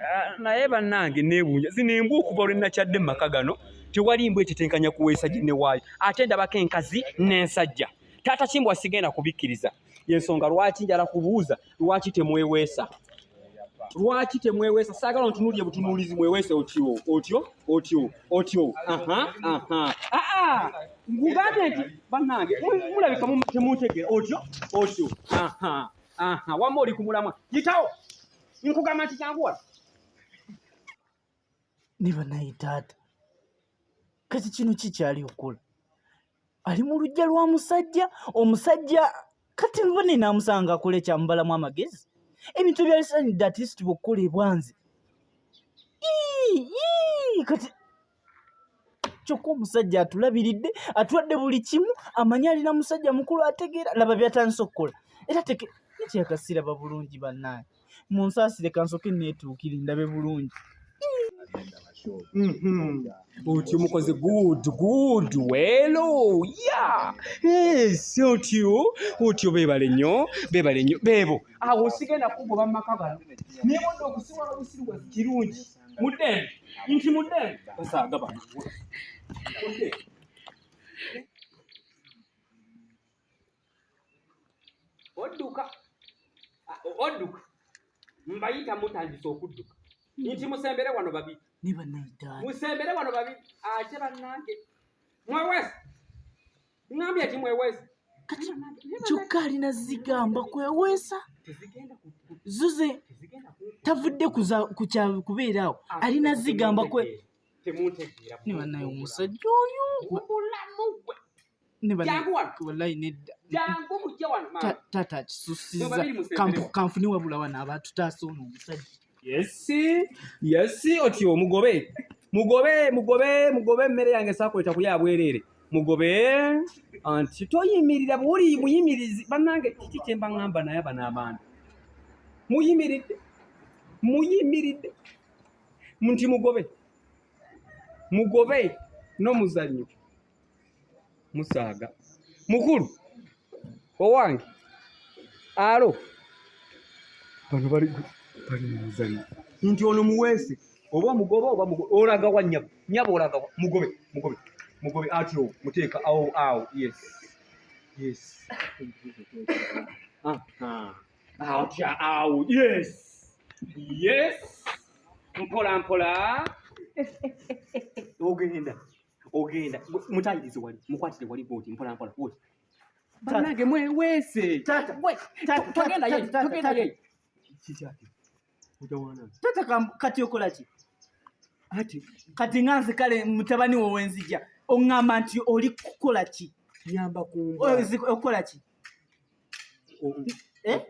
Ah, naye bannange nebuunya zino embwa okuva lwe nakyadde mu maka gano tewali mbwa ekitenkanya kuweesa ginne waayo ate ndabako enkazi n'ensajja taata kimbwa sigenda kubikkiriza yensonga lwaki njala kubuuza lwaki temweweesa lwaki temweweesa saagala ntunuulire butunuulizi mweweese otyo otyo otyo otyo nkugambye nti bannange mulabika temuntegeera otyo otyo wamma oli ku mulamwa yitawo nkugamba nti kyangu wala ne banaye taata kati kino ki kyali okukola ali mu lujja lwa musajja omusajja kati nva nenamusanga akole kyamubalamu amagezi ebintu ebyalisanidde atlist bwokukola ebwanzi kati kyokka omusajja atulabiridde atwadde buli kimu amanyi alina musajja mukulu ategeera laba byatandisa okukola era teke kyekasiraba bulungi bannaange mu nsaasire kansoke neetuukire ndabe bulungi mm-hmm. uti umukozi good good welo ya esi otyo otyo bebale nnyo bebale nnyo bebo awo sigenda kugoba mu maka gano naye wona okusiwala obusiru bwa kirungi mudden nti mudden basaaga bano odduka odduka mbayita mutandise okudduka nti musembere wano babi musembere wano babi ate bannange mwewesi Ngambye ati mweweesa. Kati kyokka alina zigamba kweweesa. Zuze tavudde kubeera awo ah, alina zigamba kwe. Ne bannaye omusajja oyo. Wallahi nedda. Taata kisusiza kanfuni wabula wano abaatutaasa ono omusajja. Yes, yes, otyo mugobe. Mugobe, mugobe, mugobe emmere yange sakuleta kulya abwerere. Mugobe. Anti toyimirira buli muyimirizi banange kiki kyemba ngamba naye abana abantu. Muyimiridde. Muyimiridde. Munti mugobe. Mugobe no muzanyo. musaaga mukulu owange alo bano bali bali mu muzanyo nti ono muweese oba omugoba oba olagawa nyabo nyabo olagawa mugobe mugobe mugobe atyo muteeka awo awo yes yes atya awo yes yes mpola mpola ogenda ogenda mutayirize wali mukwatire wali bwoti mpola mpola bwoti banange mweweese togenda ye togenda ye kikyati utawana tata kati okola ki ati kati nga nze kale mutabani wo wenzija oŋŋamba nti oli kukola ki nyamba kumba okola ki Eh?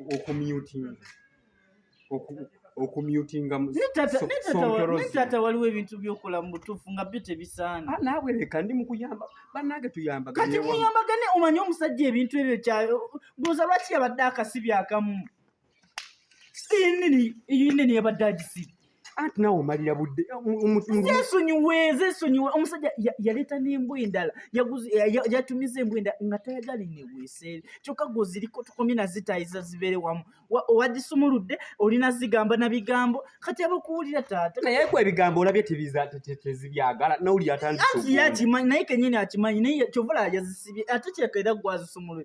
okumyutinga netaata waliwo ebintu byokola mu butuufu nga byo tebisaana ah, naawe leka ndi mukuyamba banange tuyambakati muyambagane omanye omusajja ebintu ebyo kyayo buuza lwaki yabadde akasibi akamu nini yabadde agisiba anti nawe omalira budde zesonyiwe zesonyiwe omusajja yaleeta n'embwa endala yatumiza embwa endala nga tayagala eneweeseere kyokka gwe oziriko tukomye nazitayiza zibeere wamu owagisumuludde olina zigamba na bigambo kati abakuwulira taata naye ku ebigambo olabye tezibyagala nawulira atandianti yakimanyi naye kenyini akimanyi naye kyovala yazisibye ate kyekaera gwazisumulue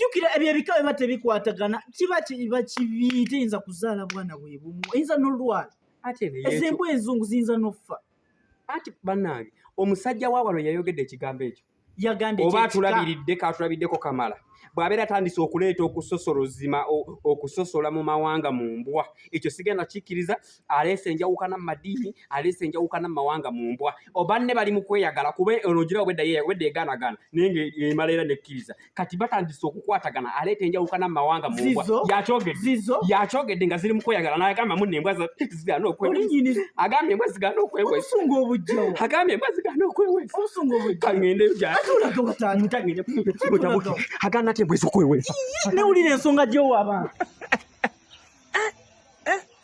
jukira ebyo ebika biba tebikwatagana kiba kiba kibi teyinza kuzaala bwana bwebumu eyinza nolwala ezembu enzungu ziyinza noffa anti banange omusajja wawalo yayogedde ekigambo ekyo oba atulabiridde katulabiddeko kamala bw'abeera atandise okuleeta okusosola ozima okusosola mu mawanga mu mbwa ekyo sigenda kikkiriza aleese enjawukana mu madiini aleese enjawukana mu mawanga mu mbwa oba ne bali mu kweyagala kuba ono ogira obwedda yewedde eganagana naye nga emala era nekkiriza kati batandise okukwatagana aleeta enjawukana mu mawanga mu mbwa yakyogedde nga ziri mu kweyagala nagamba muna embwa zigana okwagambye embwa zigana okwewesunga obujja agambye embwa zigana okwewesunga obujja kangende jatulagabatangende agana ati embwa ezokwewesa newulira ensonga gyowaba